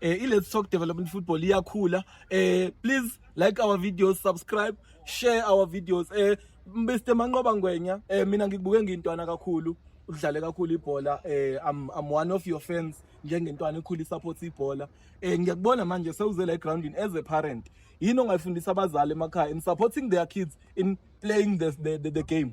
eh, i-Let's Talk Development Football iyakhula eh, please like our videos subscribe share our videos eh, Mr Manqoba Ngwenya eh, mina ngikubuke ngintwana kakhulu udlale kakhulu ibhola eh I'm, I'm one of your fans njengentwana ekhulu support ibhola eh ngiyakubona manje sewuze la groundini as a parent yini ongayifundisa abazali emakhaya in supporting their kids in playing the, the, the, the game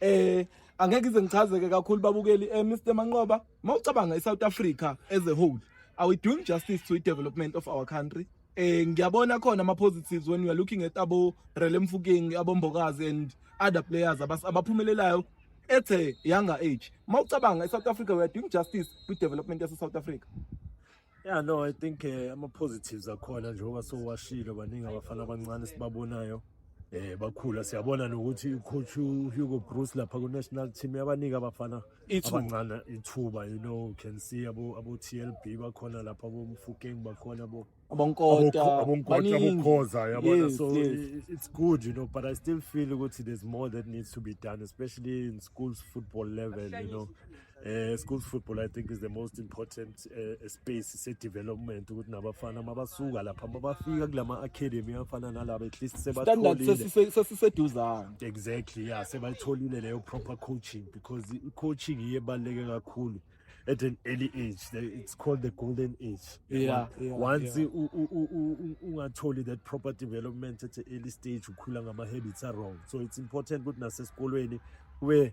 Eh angeke ize ngichazeke kakhulu babukeli eh Mr Manqoba mawucabanga iSouth Africa as a whole are we doing justice to the development of our country eh ngiyabona khona ama positives when you are looking at abo Rele Mfukeng abombokazi and other players abaphumelelayo at a younger age mawucabanga iSouth Africa we are doing justice to development yase South Africa Yeah no I think eh, ama positives akhona njengoba sowashilo baningi abafana abancane sibabonayo eh bakhula siyabona nokuthi ucoach Hugo Bruce lapha ku national team yabanika abafana Ithuba. abancane ithuba you know you can see abo abo TLB bakhona lapha abo Mfukeng bakhona abo Abonkota, Abokho- abonkota baningi. abokhoza yabona Yes, so yes. i- it's good you know but i still feel ukuthi there's more that needs to be done especially in schools football level you know Uh, schools football I think is the most important uh, space se development ukuthi nabafana mabasuka lapha mabafika kulama academy afana nalaba at least sebatholile sesiseduzana exactly yeah sebatholile leyo proper coaching because coaching iye baleke kakhulu at an early age it's called the golden age yeah, yeah once yeah. ungatholi that proper development at an early stage ukhula ngama habits are wrong so it's important ukuthi nasesikolweni where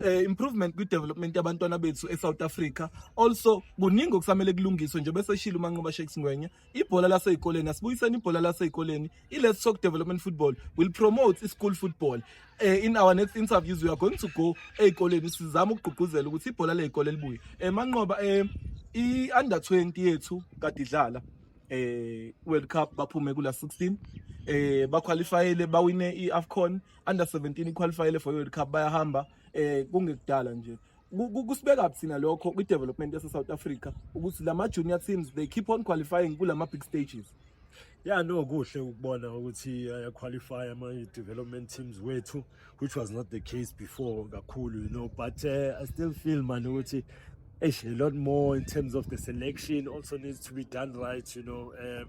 uh, improvement kwi-development yabantwana bethu e-south africa also kuningi okusamele kulungiswe nje bese shilo umanqoba shakes ngwenya ibhola laseyikoleni asibuyiseni ibhola laseyikoleni i-let's talk development football will promote i-school football uh, in our next interviews we are going to go eyikoleni sizama ukugqugquzela ukuthi ibhola leyikole libuye um manqoba um i-under 20 yethu kade idlala eh World Cup baphume kula 16 eh baqualifyele bawine iAfcon under 17 iqualifyele for World Cup bayahamba eh kungekudala nje kusibeka thina lokho kwi development yase South Africa ukuthi lama junior teams they keep on qualifying kulama big stages yeah no kuhle ukubona ukuthi aya qualify ama development teams wethu which was not the case before kakhulu you know but uh, i still feel man ukuthi a lot more in terms of the selection also needs to be done right you know um,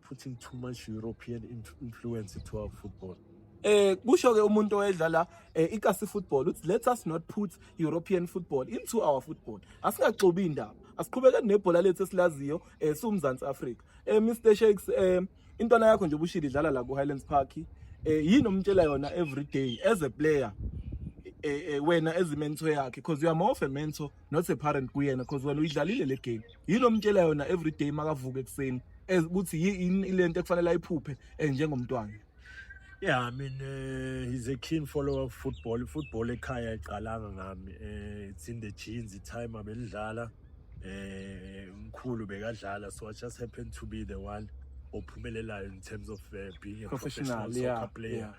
putting too much European influence to our football. Eh kusho ke umuntu oyedlala eh, ikasi football uthi let us not put European football into our football. Asingaxobi indaba. Asiqhubekeni nebhola lethu esilaziyo eh siwumzansi Africa. Eh Mr Shakes eh intwana yakho nje ubushili idlala la ku Highlands Park. Eh yini omtshela yona every day as a player eh, eh wena as a mentor yakhe because you are more of a mentor not a parent kuyena because wena uyidlalile le game yini omtshela yona every day makavuka ekuseni ukuthi yini lento ekufanele ayiphuphe eh, njengomntwana Yeah, I mean, uh, he's a keen follower of football. Football ekhaya iqalanga ngami. Uh, it's in the genes, the time abelidlala. Eh, mkhulu bekadlala so I just happened to be the one ophumelelayo in terms of uh, being a professional, professional soccer yeah, player. Yeah.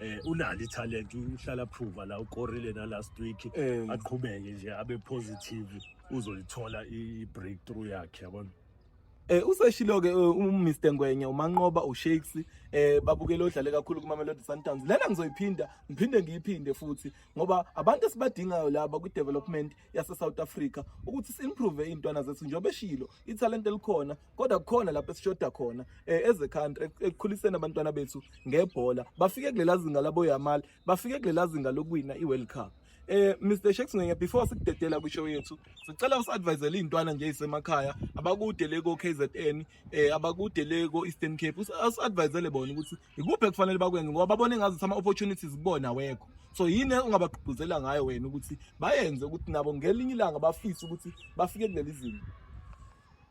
eh unalo italent uhlala prove la ukorile na last week Eh. aqhubeke nje abe positive uzoyithola i breakthrough yakhe yabona Eh useshilo ke uMr Ngwenya uManqoba uShakes eh babukele odlale kakhulu kuMamelodi Sundowns lena ngizoyiphinda ngiphinde ngiyiphinde futhi ngoba abantu esibadingayo laba kwi development yase South Africa ukuthi simprove izintwana zethu njengoba eshilo italent elikhona kodwa kukhona lapho esishoda khona eh, as a country ekukhuliseni abantwana bethu ngebhola bafike kulela zinga labo Yamal bafike kulela zinga lokuwina iWorld Cup eh Mr Shakes ngenye before sikudedela kwishow yethu sicela usadvisele izintwana nje isemakhaya abakude le ko KZN eh abakude le ko Eastern Cape usadvisele bona ukuthi ikuphi ekufanele bakwenze ngoba babone ngazi ama opportunities kubona wekho so yini ongabagqugquzela ngayo wena ukuthi bayenze ukuthi nabo ngelinye ilanga bafise ukuthi bafike kuleli zinga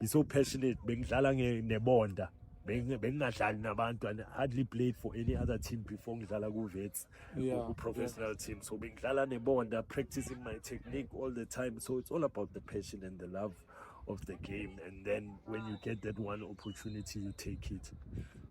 ngiso passionate bengidlala nebonda bengingadlali nabantu and hardly played for any other team before ngidlala ku-vets yeah, ku-professional yeah. team so bengidlala nebonda practicing my technique all the time so it's all about the passion and the love of the game and then when you get that one opportunity you take it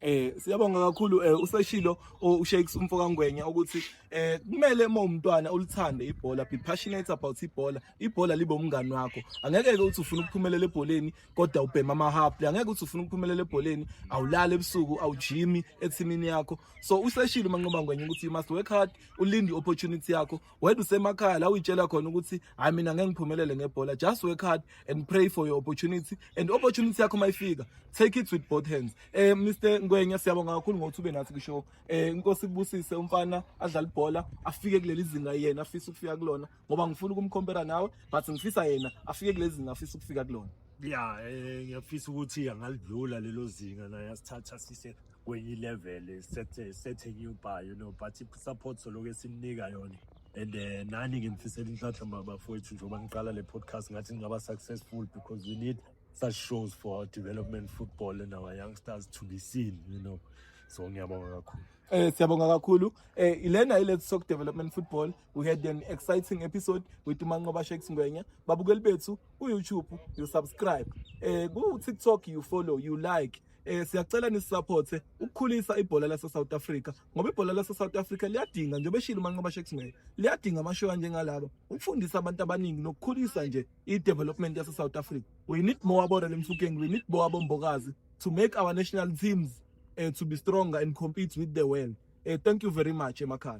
eh siyabonga kakhulu eh useshilo ushakes umfoka ngwenya ukuthi eh kumele uma umntwana ulithande ibhola be passionate about ibhola ibhola libe umngani wakho angeke ke uthi ufuna ukuphumelela ebholeni kodwa ubhema amahaple angeke uthi ufuna ukuphumelela ebholeni awulali ebusuku awujimi ethimini yakho so useshilo manqoba ngwenye ukuthi you must work hard ulinde opportunity yakho wena usemakhaya la uyitshela khona ukuthi hayi mina ngeke ngiphumelele ngebhola just work hard and pray for your opportunity and opportunity yakho mayifika take it with both hands eh Mr Ngwenya siyabonga kakhulu ngokuthi ube nathi kusho eh inkosi kubusise umfana adlala ibhola afike kuleli zinga yena afisa ukufika kulona ngoba ngifuna ukumcompera nawe but ngifisa yena afike kulezi ngafisa ukufika kulona ya eh, ngiyafisa ukuthi angalidlula lelo zinga naye asithatha sise kwenye level sethe sethe new bar you know but support soloku esimnika yona and uh, nani ngimfisela inhlanhla mabafowethu njengoba ngiqala le podcast ngathi ngingaba successful because we need such shows for our development football and our youngsters to be seen you know so ngiyabonga kakhulu eh siyabonga kakhulu eh ilena ilethu soku development football We had an exciting episode with Manqoba Shakes Ngwenya. Babukeli bethu ku YouTube, you subscribe. Eh ku TikTok you follow, you like. Eh siyacela nisupporte ukukhulisa ibhola lase South Africa ngoba ibhola lase South Africa liyadinga njengoba eshilo Manqoba Shakes Ngwenya. Liyadinga amashow anjengalaba ukufundisa abantu abaningi nokukhulisa nje i development yase South Africa. We need more about Lemfukeng, we need more abombokazi to make our national teams uh, to be stronger and compete with the world. Uh, thank you very much emakhaya.